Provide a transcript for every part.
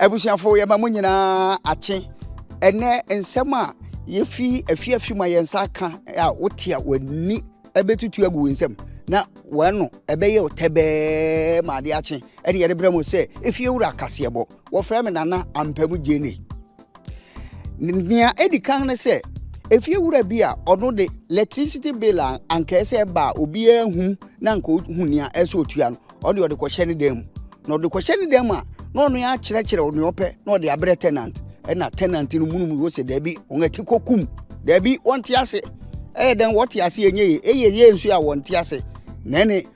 abusuafo yɛma mo nyinaa akye ɛnɛ nsɛm a yɛfi afiafi ma yɛn nsa ka a wote a w'ani ɛbɛtutu agu wo nsɛm na wɔn no ɛbɛyɛ ɔtɛbɛɛ ma adeɛ akye ɛne yɛde brɛ mo sɛ efie wura kaseɛbɔ Wɔfrɛ me Nana Ampamu Gyene. Nea edi kan ne sɛ, efie wura bi a ɔno de electricity bill a anka ɛsɛ ɛba a obiara hu na anka ohu nea ɛsɛ otua no, ɔde ɔde kɔhyɛ ne dan mu. Na ɔde kɔhyɛ ne dan mu a, na ɔno ara akyerɛkyerɛ nea ɔpɛ na ɔde abrɛ tenant. Ɛna tenant no munum wɔ sɛ daabi, wɔn ati kɔkum. Daabi, wɔnte ase. Ɛyɛ dɛn wɔte ase ɛnyɛ ye? Ɛyɛ ye nso a wɔnte ase. Na ɛne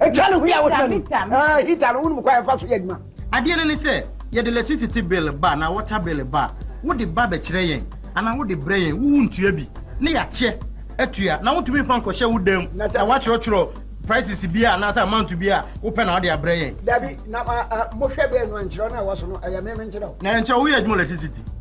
Ɛtwa ne ho yɛ a wotwa ne mu. Heater no wonim kwan ɛfa so yɛ adwuma. Adeɛ no ne sɛ, yɛde electricity bill ba anaa water bill ba a, wode ba bɛkyerɛ yɛn anaa wode brɛ yɛn, wo wontua bi na yɛakyɛ atua. Na wontumi mfa nkɔhyɛ wo dan mu na woatwerɛtwerɛ prices biara anaasɛ amount biara a wopɛ na wode abrɛ yɛn. Dabi, na mohwɛ bɛn no ankyerɛ wo na ɛwɔ so no, ɛyɛ me menkyerɛ wo. Na ɛnkyerɛ wo, woyɛ adwuma electricity.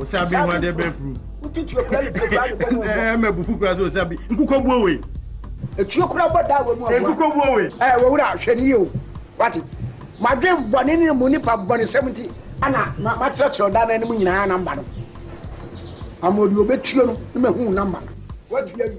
osabi ho adeɛ bɛɛ puru ɛmɛ bufu kura sɛ osabi nkukɔ buo wei etuo kura bɔ da wɔ mu ɔbɔ nkukɔ buo wei ɛɛ wɔwura hwɛ ne yie o wate madwen bɔne ne mu nipa bɔne sɛm nti ana makyerɛkyerɛ ɔda no anim nyinaa namba no ama ɔde ɔbɛtuo no ne mahu namba no watu awi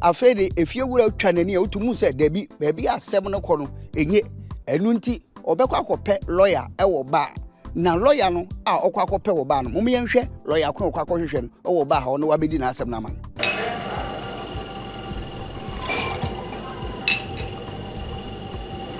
afei de efie wura twa n'ani a wotu mu sɛ dabi baabi a asɛm no kɔ no enye ɛno nti ɔbɛkɔ akɔpɛ lɔya wɔ baa na lɔya no a ɔkɔ akɔpɛ wɔ baa no mo yɛnhwɛ lɔya ko a ɔkɔ akɔhwehwɛ no wɔ baa ha ɔno wabɛdi n'asɛm no ama no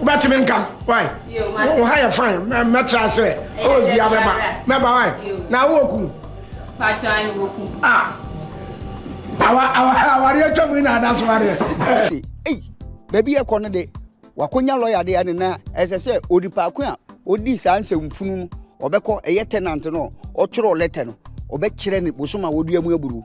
wobɛtumi nka wai wo ha yɛ fine mɛtra sɛ ɔwɔ bia bɛba mɛba wai na wowɔ ku awareɛ atwa mu na ada so wareɛ baabi ɛkɔ no de wakɔnya lɔya de ane na ɛsɛ sɛ onipaako a ɔdi saa nsɛmfunu no ɔbɛkɔ ɛyɛ tenant no ɔtwerɛ lɛtɛ no ɔbɛkyerɛ ne bosom a wɔdua mu aburu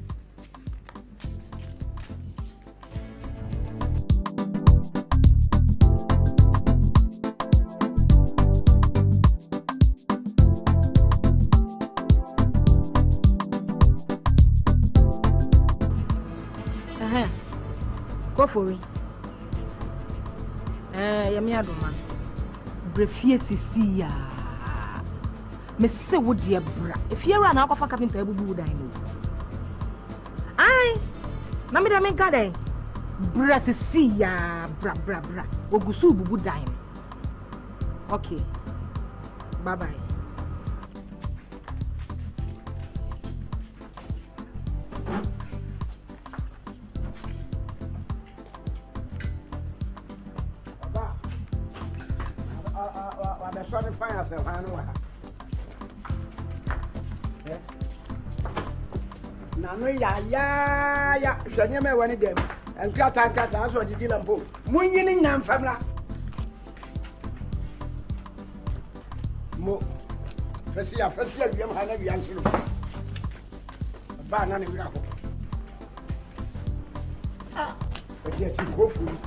kɔfori ɛɛ yɛmi adoma brɛ fie sisi yaa Mese wo deɛ bra. Efie wura na akɔfa kapinta abubu wo dan no. Ai. Na me deɛ me nka dɛn. Bra sisi ya bra bra bra. Ogusu bubu dan no. Okay. Bye bye. Wabɛsɔ ne fan asɛ hwan no wɔ ha nano yayaaya hwɛ nneɛma ɛwɔ ne dɛm nkrataa nkrataa sɛ ɔdedi la mpo monyi ne nyina mfam la mo fɛsi afɛsi awiam ha na awia nso no Ɔbaa na ne werɛ ahopo. Ah, ɔde asi kɔ ofori.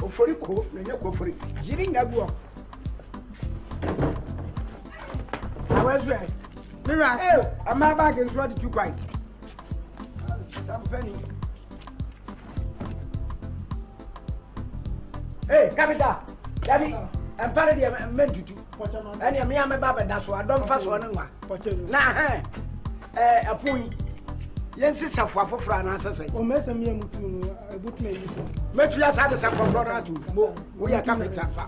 Ofori ko na ɛnyɛ kɔ ofori. Yiri nya gu hɔ. Awɛsɛ. Mira. Ee, ɔmaa baagi nso ɔde tu kwan. Sampani. Hey, kapita, dabi, mpa no deɛ mɛntutu. Ɛneɛ mea mɛba bɛda so, adɔ mfa soɔ ne nwa. Na hɛn, eh, ɛpono yi, yɛnsi safoa foforɔ anaasɛ sɛ? Ɔmɛsɛm yɛ mutu no, ɛbotumi ayi so. Mɛtu yɛ saa de sɛ kɔkɔrɔ no ato mo, woyɛ kapita pa.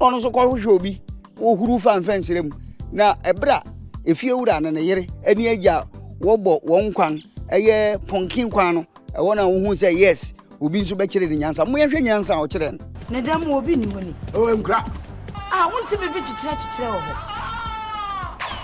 Ɔno nso kɔhwehwɛ obi wɔhuru fa mfɛnsere mu na ɛberɛ a efie wura ne ne yere ne agya wɔbɔ wɔn kwan ɛyɛ pɔnkin kwan no ɛwɔ na wohu sɛ yes obi nso bɛkyerɛ ne nyansa mo yɛhwɛ nyansa a ɔkyerɛ no. ne dan mu obi nni hɔ ni. ɛwɔ nkura. a wonte biribi kyekyerɛ kyekyerɛ wɔ hɔ.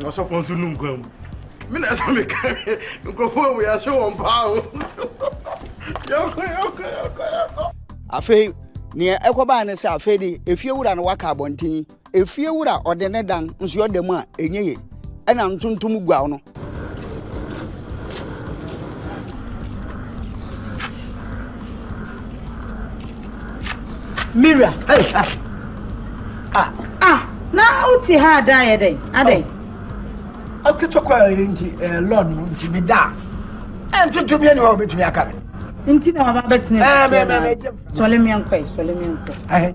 ɔsɔfo nso nu nkwa mu me na ɛsɛ me ka nkurɔfoɔ wɔ yɛahyɛ wɔn paa o yɛkɔ yɛkɔ yɛkɔ yɛkɔ afei nea ɛkɔbaa ne sɛ afei de efie wura no waka abɔnten efie wura ɔde ne dan nso ɔda mu a ɛnyɛ yie ɛna ntontom guaw no. Mira. Hey, ah. Ah. Ah, na wote ha ada yɛ dɛn? Adɛn? Oh. Aketokwa yɛ nti eh, lord no nti me da. Ɛntontom yɛ ne hɔ wobɛtumi aka me. Nti na waba bɛtena ɛkyɛ na sɔle me nkɔ yi, sɔle me nkɔ.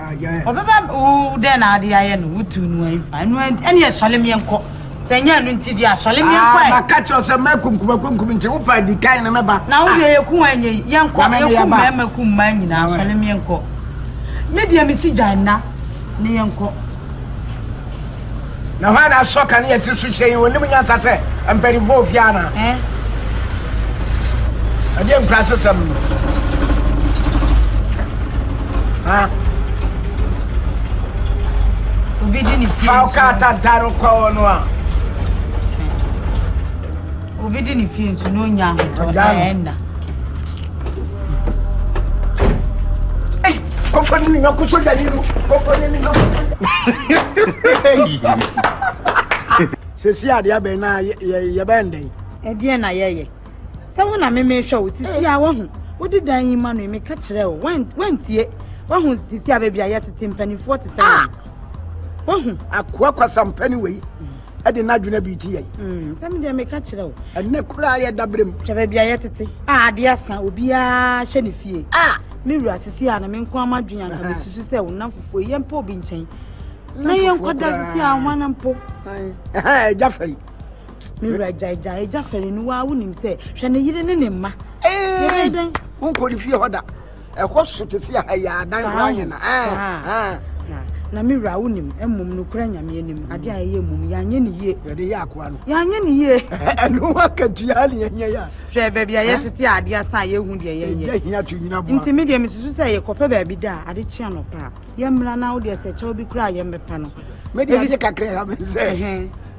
Ɔbɛba wo dɛn na ade ayɛ no wotu no ayi pa ɛno ɛnti ɛneɛ sɔle meɛ nkɔ sɛ ɛnyɛ ɛno nti deɛ sɔle meɛ nkɔ ɛ. Maka kyerɛ sɛ mɛ kumkuma kumkum nti wo pa di kan na mɛba. Na wo deɛ yɛku wɔn ɛnyɛ yi yɛnkɔ yɛku mɛma ku mmaa nyinaa sɔle meɛ nkɔ me deɛ mesi gyae nna ne yɛnkɔ. Na hwan na asɔ kanea si so hyɛ yi? Onim nyansa sɛ mpanyimfo wɔ fie ana? Eh? Ɛdeɛ nkurase sɛm no. Ha? Obi di ne pie Fa nsu. kaa tantan no kɔ hɔ no a. Obi di ne pie nsu na onya ahotɔ Ɔgya no. ɛnna. kɔfa no nwa kɔsɔ dani no kɔfa no nwa sɛsi adeɛ abɛn na yɛbɛn dɛn ɛdeɛ na yɛyɛ sɛ wo na memehwɛ wo sisi a wahu wode dan yi ma no meka kyerɛ wo wantie wahu sisi a baabi a yɛtete mpanimfoɔ te sɛ wahu akoa kwasampani wei ɛde n'adwene abiriti yɛn. Hmm, sɛ medeɛ meka kyerɛ wo ɛnɛ koraa yɛ daberɛ mu hwɛ baabi a yɛtete a adeɛ asa obiaa hyɛ ne fie a me wura sisi a na me nko ama dwen anka mesusu sɛ wo nam fufuo yɛ mpa obi nkyɛn na yɛnkɔda sisi a hwan mpo agya fɛre me wura gyaegya agya fɛre no waa wonim sɛ hwɛ ne yere ne ne mma yɛbɛyɛ dɛn wonkɔ ne fie hɔ da ɛkɔ so te sɛ ha yi a adan Saa koraa yɛ o, na ɛɛ saa. ɛɛ Na, na me wura, wonim, mmom nokorɛ Nyame anim, adeɛ a yɛyɛ mmom, yɛanyɛ no yie. yɛde yɛ akoa no Yɛanyɛ no yie. ɛno akatua ne yɛnyɛ yɛ a Hwɛ baabi a yɛtete a adeɛ asa a yɛnhu deɛ yɛnyɛ. ɛgya hia to nyina boa Nti me deɛ mesusu sɛ yɛkɔpɛ baabi da a, ade kye anɔpa a, yɛmmra na wo deɛ sɛ kyɛw bi koraa a yɛmmɛpa no. me deɛ Ebi- ade kakra ɛha me sɛ Ɛhɛn.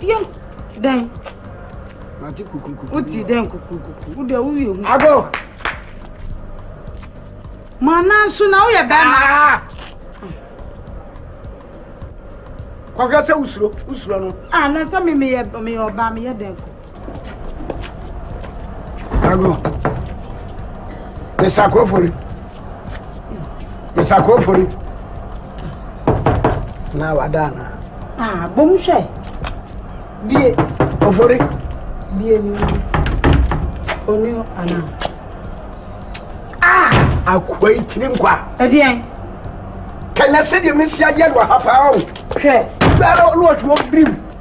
yɛ dɛn ate kukurukuku wote dɛn kukurukuku wode a woyɛ hu ago mana nso na woyɛ bɛrima ah! kɔhwɛ sɛ wosuro wosuro no ah na sɛ me meyɛ meyɛ ɔbaa meyɛ dɛn kɔ Ago. Mr. Kofori. Mr. Kofori. Na wada na. Ah, bom hwɛ. Bie. Kofori. Bie ni. Oni ana. Ah, akwa itiri nkwa. Ɛdeɛn. Kɛnɛ sɛ deɛ mesi ayɛ no ha paa o. Hwɛ. Bɛrɛ ɔno ɔtwe ɔbirim.